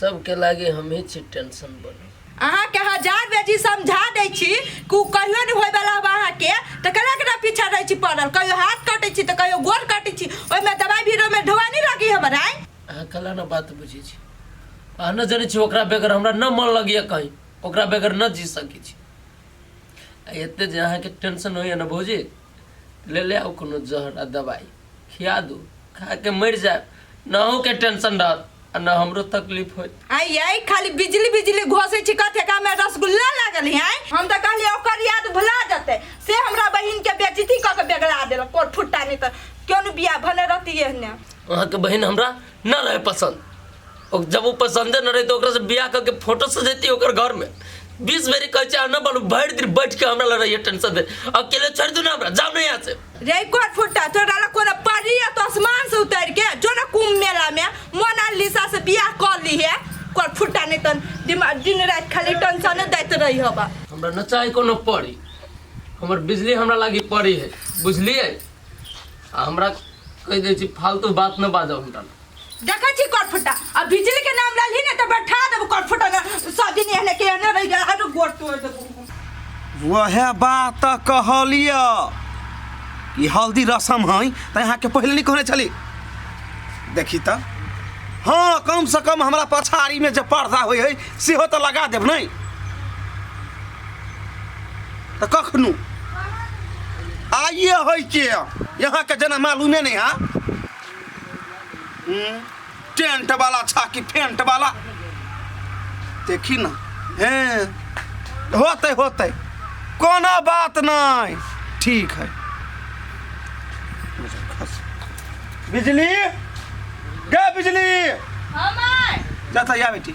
सबके लागे हम ही छी टेंशन बनल अहाँ के हजार बेजी समझा दै छी कि उ कहियो नहि होय वाला बा अहाँ के तऽ केना केना पीछा रहै छी पड़ल कहियो हाथ काटै छी तऽ कहियो गोड़ काटै छी ओहिमे दवाई बीरो में ढोआ नहि लगी हमर आइ अहाँ कला ना बात बुझे छी अहाँ न जाने छी ओकरा बगैर हमरा न मन लगे कहीं ओकरा बगैर न जी सके छी आ एते जे अहाँ के टेंशन होइए ना भौजी ले ले आउ कोनो जहर आ दवाई खिया दू खा के मर जाए न अहूँ के टेंशन रहत आ न हमरो तकलीफ होत आई आई खाली बिजली बिजली घोसे छी कथे का में रसगुल्ला लागल है आई हम तो कहली ओकर याद भुला जते से हमरा बहिन के बेजती क के बेगला देल कोर फुट्टा नहीं तो क्यों न बिया भने रहती है ने अहाँ के बहन हमरा ना रहे पसंद और जब वो पसंदे न रहे तो ओकरा से बियाह करके फोटो सजेती ओकर घर में बीस बेरी कहे चाहे ना बनू भर दिन बैठ के हमरा लग रही टेंशन दे अकेले छोड़ दू ना हमरा जाओ ना यहाँ से रे कोर फुटा तो डाला कोन पड़ी है तो आसमान से उतर के जो ना कुंभ मेला में मोनालिसा से बियाह कर ली है कोर फुटा नहीं तन दिमाग दिन रात खाली टेंशन दैत रही होबा हमरा न चाहे कोनो पड़ी हमर बिजली हमरा लागी पड़ी है बुझलिए आ हमरा कहि दै छी फालतू बात न बाजऽ हमरा लग। देखै छी करफुटा आ बिजली के नाम ललही ने तऽ बैठा देबो करफुटा ने सब दिन एहने के एहने रहि गेल आरो गोड़ तोड़ देबो वह बात तऽ कहलिय कि हल्दी रसम है तऽ अहाँके पहिले नहि कहने छली देखी तऽ हँ कम से कम हमरा पछाड़ीमे जे पर्दा होइ है सेहो तऽ लगा देब नहि तऽ कखनो आइए होइ के यहाँके जेना मालूमे नहि है हम्म, टेंट वाला छा कि फेंट वाला देखी ना हैं होते होते कोनो बात नहीं ठीक है बिजली गे बिजली हमर जाता या बेटी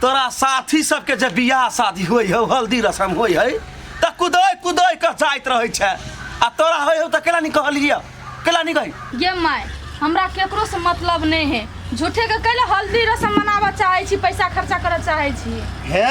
तोरा साथी सबके जे बियाह शादी होइ हौ हल्दी रसम होइ है तऽ कुदै कुदै कऽ जाइत रहै छै आ तोरा होइ हौ तऽ केला नहि कहलियै केला नहि कही ये माय हमरा केकरो से मतलब नहीं है झूठे के कैले हल्दी रसम मनाबऽ चाहे छी पैसा खर्चा करऽ चाहे छी हे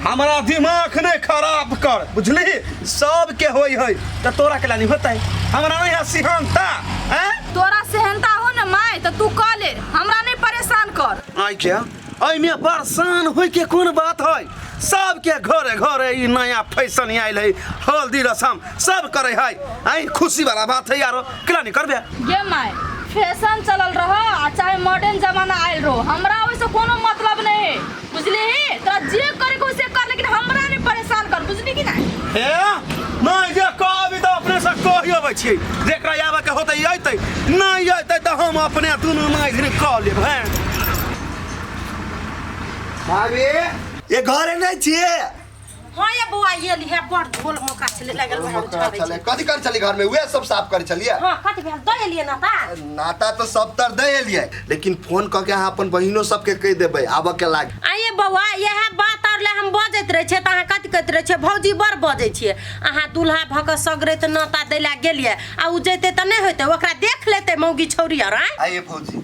हमरा दिमाग नहि खराब कर बुझली सबके होइ है तऽ तोरा केला नहि होतै हमरा नहि है सिहनता हैं तोरा सेहनता हो न माय तऽ तू कऽ ले हमरा नहीं परेशान कर आइ क्या एहिमे परेशान होइके कोन बात है सबके घरे घरे ई नया फैशन आयल है हल्दी रसम सब करे है आई खुशी वाला बात है यारो केना नहीं करबे ये माय फैशन चलल रह आ चाहे मॉडर्न जमाना आयल रहो हमरा ओइसे कोनो मतलब नहीं है बुझली ही तोरा जे करे को से कर लेकिन हमरा ने परेशान कर बुझली कि नहीं हे नहीं जे कहबी तऽ अपने से कहि अबै छी जेकरा आबे के होतै अयतै नहि अयतै तऽ हम अपने दुनू माय धरि कह लेब हैं भाभी ये घरे नहीं छिए हाँ ये बुआ ये लिहे बड़ ढोल मौका चले लगल बा हम छोड़े चले कथी कर चली घर में उहे सब साफ कर चलिए हाँ कथी भेल दे लिए ना ता नाता तो सब तर दे एलिए लेकिन फोन क के अहाँ अपन बहिनो सबके कह देबै आबऽ के लाग आइए बौआ यह बात और ले हम बजैत रहे छे त अहाँ कथी कहैत रहे छे भौजी बड़ बजै छिए अहाँ दूल्हा भऽ कऽ सगरे तऽ नाता दै लए गेलिए आ उ जैते तऽ नहि होइते ओकरा देख लेते मौगी छौरी आर आँय आइए भौजी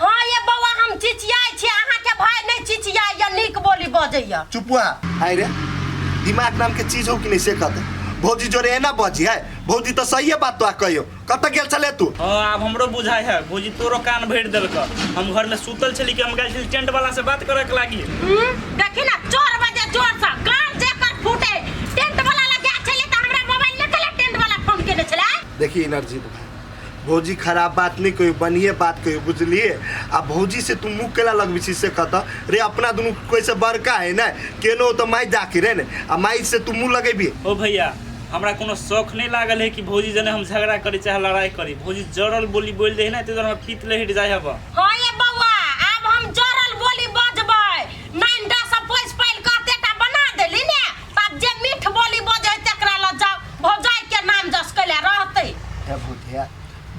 हँ ये बौआ हम चिचियाइ छी अहाँके भाय नहि चिचियाइए नीक बोली बजैए चुपुआ आइ रे दिमाग नाम के चीज हो कि नहीं से कहते भौजी जोरे है ना बजी है भौजी तो सही है बात तो आ कहियो कत गेल चले तू हँ आब हमरो बुझाइ है भौजी तोरो कान भरि देलक हम घरमे सुतल छली कि हम गेल छली टेंट वाला से बात करक लागी हम्म, देखी ना चोर बजे चोर सा कान जेकर फूटे टेंट वाला लगे छले त हमरा मोबाइल न कले टेंट वाला फोन केने छले देखी एनर्जी तो भौजी खराब बात नहीं कहियो बढ़िए बात कहियो बुझलिए आ भौजी से तू मुँह केला लगबी छी से कत रे अपना दुनू कोई से बड़का है ना केनो तो माई जाके रे ने आ माई से तू मुँह लगेबी ओ भैया हमरा कोनो शौक नहीं लागल है कि भौजी जने हम झगड़ा करी चाहे लड़ाई करी भौजी जड़ल बोली बोल दे है ना तो हम पीत ले हट जाए हब हाँ ये बौआ आब हम जरल बोली बजबै नाइन टा सब पोस पाइल कहते टा बना देली ने बात जे मीठ बोली बजे है तकरा लग जाओ भौजाई के नाम जस कैले रहते हे भूतिया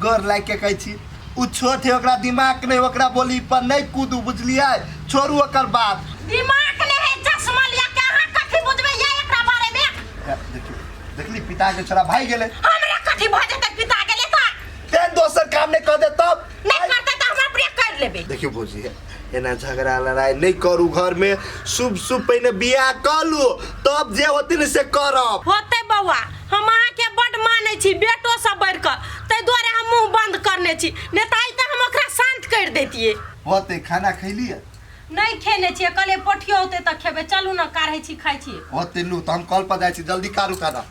गोर लाग के कहै छी उ छोट है ओकरा दिमाग नहीं ओकरा बोली पर नहीं कूदू बुझलियै छोड़ू ओकर बात दिमाग ने है चश्मा लिया के अहाँ कथी बुझबे ये एकरा बारे में हे, देखियौ देखली पिता के छोड़ा भाई गेलै हमरा कथी भऽ जेतै पिता गेले तऽ तें दोसर काम नहीं कर दे तब नहीं करते तऽ हमरा प्रिय कर लेबे देखियौ भौजी हे एना झगड़ा लड़ाई नहीं करू घर में शुभ शुभ पहिने बियाह कर लू तब जे होती ने से करब होते बौआ हम अहाँ के बड माने छी बेटो से बढ़ कर ते दुआरे हम मुंह बंद करने छी नहीं तो आई तो हम ओकरा शांत कर देतिए होते खाना खैली है नहीं खेने छी कले पोठियो होते तो खेबे चलू ना काढ़े छी खाई छी होते लू तो हम कल पर जाए छी जल्दी कारू खाना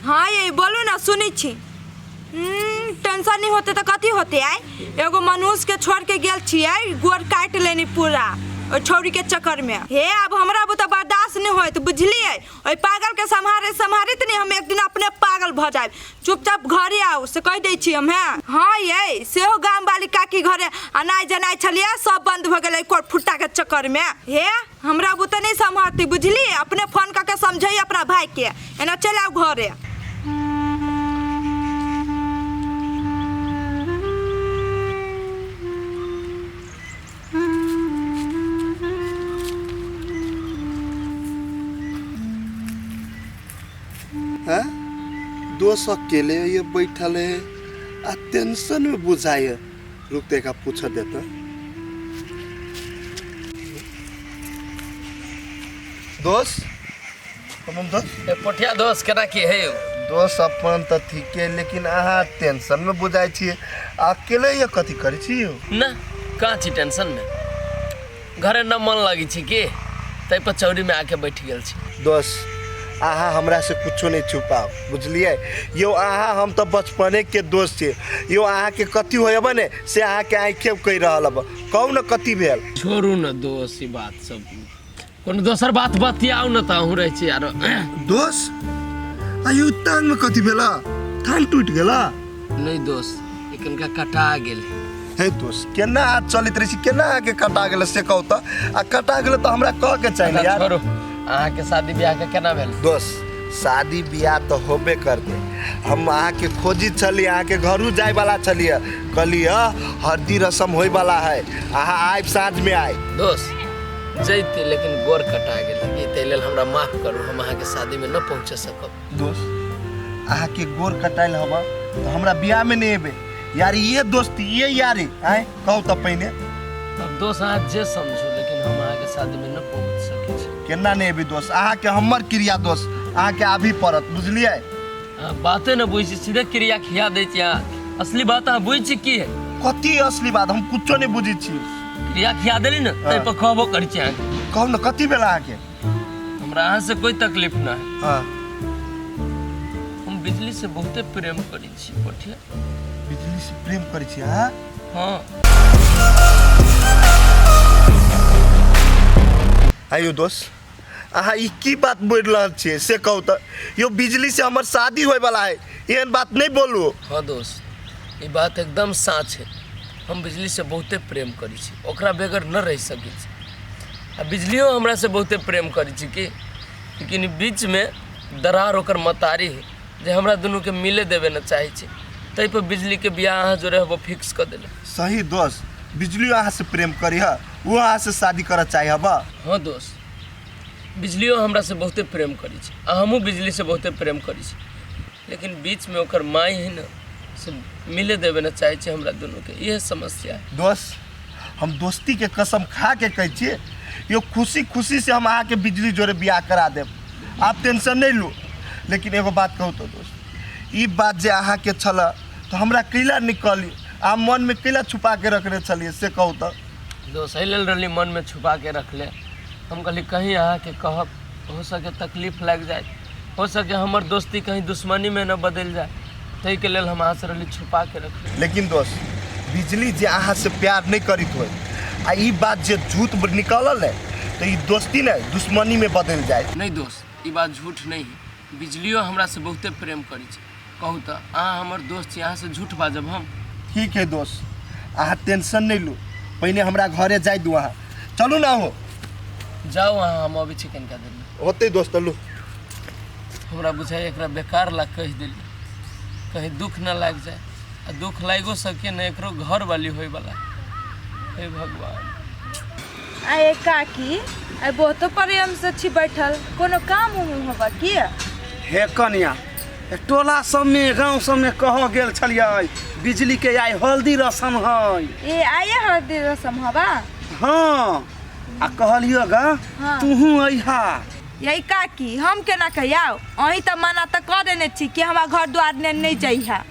हाँ ये बोलू ना सुनी छी हम्म, टेंशन नहीं होते तो कथी होते आय एगो मनुष्य के छोड़ के गेल छियै गोड़ काट लेनी पूरा ओइ छौरी के चक्कर में हे अब हमरा बुते बर्दाश्त नहीं होत बुझलिए ओइ पागल के सम्हारे सम्हारित नहीं हम एक दिन अपने पागल भ जाए चुपचाप घरे आओ से कह दै छी हम हैं हाँ ये सेहो गाम वाली काकी घरे अनाज जनाइ छलिए सब बंद भ गेलै कोट फुट्टा के चक्कर में हे हमरा बुते नहि सम्हरती बुझली अपने फोन कऽ के समझै अपना भायके एना चलि आउ घरे हैं दोस्त अकेले ये बैठल है आ टेंशन में बुझाए रुक तो एक आप पूछा देता दोस्त अपन तो ए पोठिया दोस्त केना की है यौ दोस्त अपन तो ठीक है लेकिन अहाँ टेंशन में बुझाई छी अकेले ये कथी करे छी यौ ना कहाँ छी टेंशन में घरे न मन लगी छी की तै पर चौरी में आके बैठ गेल छी दोस्त अहाँ हमरा से कुछो नहीं छुपाओ बुझलिए यो अहाँ हम तो बचपने के दोस्त छी यो अहाँ के कथी होयब ने से अहाँ के आँखे कहि रहल अब कहू न कथी भेल छोड़ू न दोस्त ई बात सब कोनो दोसर बात बतियाउ न त अहूँ रहै छी आरो दोस्त आयु तान में कथी भेला थान टूट गेला नहीं दोस्त एकनका कटा गेल हे दोस्त केना हाथ चलित रही केना आके कटा गेल से कहू त आ कटा गेल त हमरा कह के चाहिए अच्छा, यार छोड़ू अहाँ के शादी ब्याह के केना भेल दोस्त शादी बियाह तो होबे करते हम अहाँ के खोजी छली अहाँ के घरू जाए वाला छलिए कहली ह हरदी रसम होए वाला है अहाँ आइब साँझ में आए दोस्त जैती लेकिन गोर कटा गेल ई ताहि लेल हमरा माफ करू हम अहाँके शादीमे न पहुँच सकब दोस्त अहा के गोर कटाइल हवा तो हमरा ब्याह में नहीं एबे यार ये दोस्त ये यारी आए कहू तो पहिने अब दोस्त अहाँ जे समझू लेकिन हम अहाँके शादी में न पहुँच सकै छी केना नहीं एबे दोस्त अहा के हमर क्रिया दोस्त अहा के आबी पड़त बुझलिए अहाँ बाते न बुझै छी सीधे क्रिया खिया दै छी अहाँ असली बात अहाँ बुझै छी की है कथी असली बात हम कुछो नहीं बुझी छी क्रिया खिया देली ने ताहि पर कहबो करै छी अहाँके कहू ने कथी भेल अहा के हमरा अहाँ से कोई तकलीफ ना है हाँ हम बिजली से बहुते प्रेम करी छी पठिया बिजली से प्रेम करै छी हाँ हाँ आइयो दोस्त अहाँ ई की बात बोल रहल छियै से कहू तऽ यो बिजली से हमर शादी होय वाला है एहन बात नहीं बोलू हाँ दोस्त ये बात एकदम साँच है हम बिजली से बहुते प्रेम करी छी ओकरा बगैर न रह सकै छी आ बिजलियो हमरा से बहुते प्रेम करै छै कि लेकिन बीच में दरार ओकर मतारी है जे हमरा दुनू के मिले देवे न चाहे छै तै पर बिजली के बियाह अहाँ जोरे हबो फिक्स कर देले सही दोस्त बिजलियो अहाँ से प्रेम करी है वो अहाँ से शादी करऽ चाहे हबा हाँ दोस्त बिजलियो हमरा से बहुते प्रेम करै छै आ हमहूँ बिजली से बहुते प्रेम करै छी लेकिन बीच में ओकर माई है न से मिले देवे न चाहे छै हमरा दुनू के इहे समस्या है दोस्त हम दोस्ती के कसम खा के कहै छियै यो खुशी खुशी से हम अहाँके बिजली जोरे बियाह करा देब आप टेंशन नहीं लू लेकिन एगो बात कहू तो दोस्त ई बात जे अहाँके छल तो हमरा कैला निकली आ मन में कैला छुपा के रखने छलिए से कहू तो दोस्त एहि लेल रहली मनमे छुपा के रखले हम कहली कहीं अहाँके कहब हो सके तकलीफ लागि जाए हो सके हमर दोस्ती कहीं दुश्मनी में न बदल जाए तई के लेल हम अहाँ से रहली छुपा के रखली लेकिन दोस्त बिजली जे अहाँ से प्यार नहीं करित हो आ ई बात जे झूठ ब- निकलल है तो ई दोस्ती ने दुश्मनी में बदल जाए नहीं दोस्त ई बात झूठ नहीं है बिजलियो हमरा से बहुते प्रेम करी छै कहू तऽ अहाँ हमर दोस्त छी अहाँसँ झूठ बाजब हम ठीक है दोस्त अहाँ टेंशन नहीं लू पहिने हमरा घरे जाय दू अहाँ चलू ना हो जाउ अहाँ हम अबै छी कनिका देरमे होते दोस्त लू हमरा बुझाइ एकरा बेकार ला कहि देली कहीं दुख न लागि जाए आ दुख लागिओ सके ने एकरो घर वाली होयवला हे भगवान आए काकी आए बहुतो प्रेम से छी बैठल कोनो काम उम होबा की हे कनिया टोला सब में गांव सब में कह गेल छलिए बिजली के आई हल्दी रसम है ए आये हल्दी रसम हवा हाँ आ कहलियो गा हाँ। तूहू अहा यही काकी हम केना कहियाओ अही तो मना तो कर देने छी कि हमारा घर द्वार ने नहीं जइहा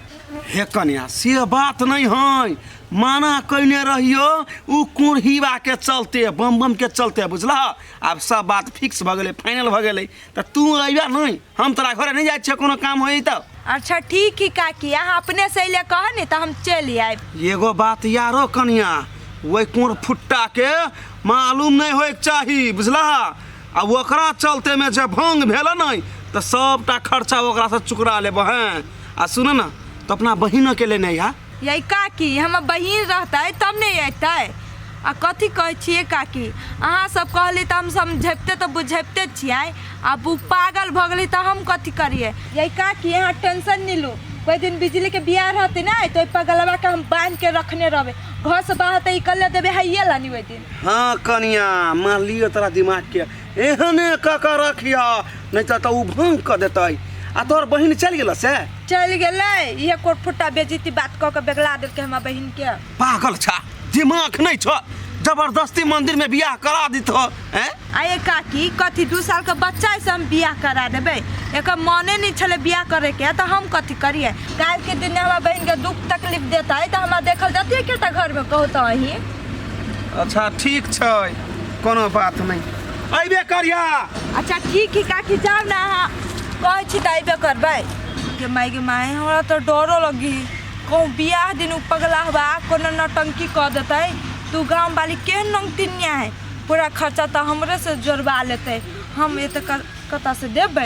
हे कन्या से बात नहीं है माना कैने रहियो उ कुर्हीवा के चलते बम बम के चलते बुझला अब सब बात फिक्स भ गेलै फाइनल भ गेलै त तू अइबा नहीं हम तोरा घरे नहीं जाए छे कोनो काम होई तब अच्छा ठीक ही काकी अहाँ अपने से अइले कह ने तऽ हम चलि आयब एगो बात यारो कनिया वही कोर फुट्टा के मालूम नहीं होए के चाही बुझला आ ओकरा चलते में जब भंग भेल नहीं तो सबटा खर्चा ओकरा से चुकरा लेब हैं आ सुन ना तो अपना बहिन के लेने आ यै काकी हमर बहिन रहतै तब ने अयतै आ कथी कहै छियै काकी अहाँ सब कहली तऽ हम समझैबते तऽ बुझैबते छियै आब ओ पागल भऽ गेली तऽ हम कथी करियै यै काकी अहाँ टेंशन नहि लू कोई दिन बिजली के बियाह रहते ने तो ओहि पगलवा के हम बांध के रखने रहबे घर से बाहर तो निकल देबे हइये ला नहीं ओहि दिन हाँ कनिया मान लियो तोरा दिमाग के एहने कऽ कऽ रखिह नहि तऽ तऽ ओ भंग कऽ देतै आ तोहर बहिन चलि गेल से चल गेले ये कोट फुट्टा बेजती बात कह के बेगला देलके हमरा बहिन के पागल छा दिमाग नहीं छ जबरदस्ती मंदिर में बियाह करा दी तो हैं आये काकी कथी दू साल के बच्चा से हम बियाह करा देबे एक मने नहीं छले बियाह करे के तो हम कथी करिए काल के दिन हमरा बहन के दुख तकलीफ देता है तो हमरा देखल जाती है केटा घर में कहता ही अच्छा ठीक छै कोनो बात नहीं अबे करिया अच्छा ठीक है काकी जाओ ना अहाँ कहै छी तऽ अयबे करबै गे माय गे माय हमरा तऽ डरो लगी कहूँ बियाह दिन उ पगला हवा कोनो नौटंकी कऽ देतै तू गाँव वाली केहन नौकतिनिया है पूरा खर्चा तऽ हमरे से जोड़वा लेतै हम एते कतऽ से देबै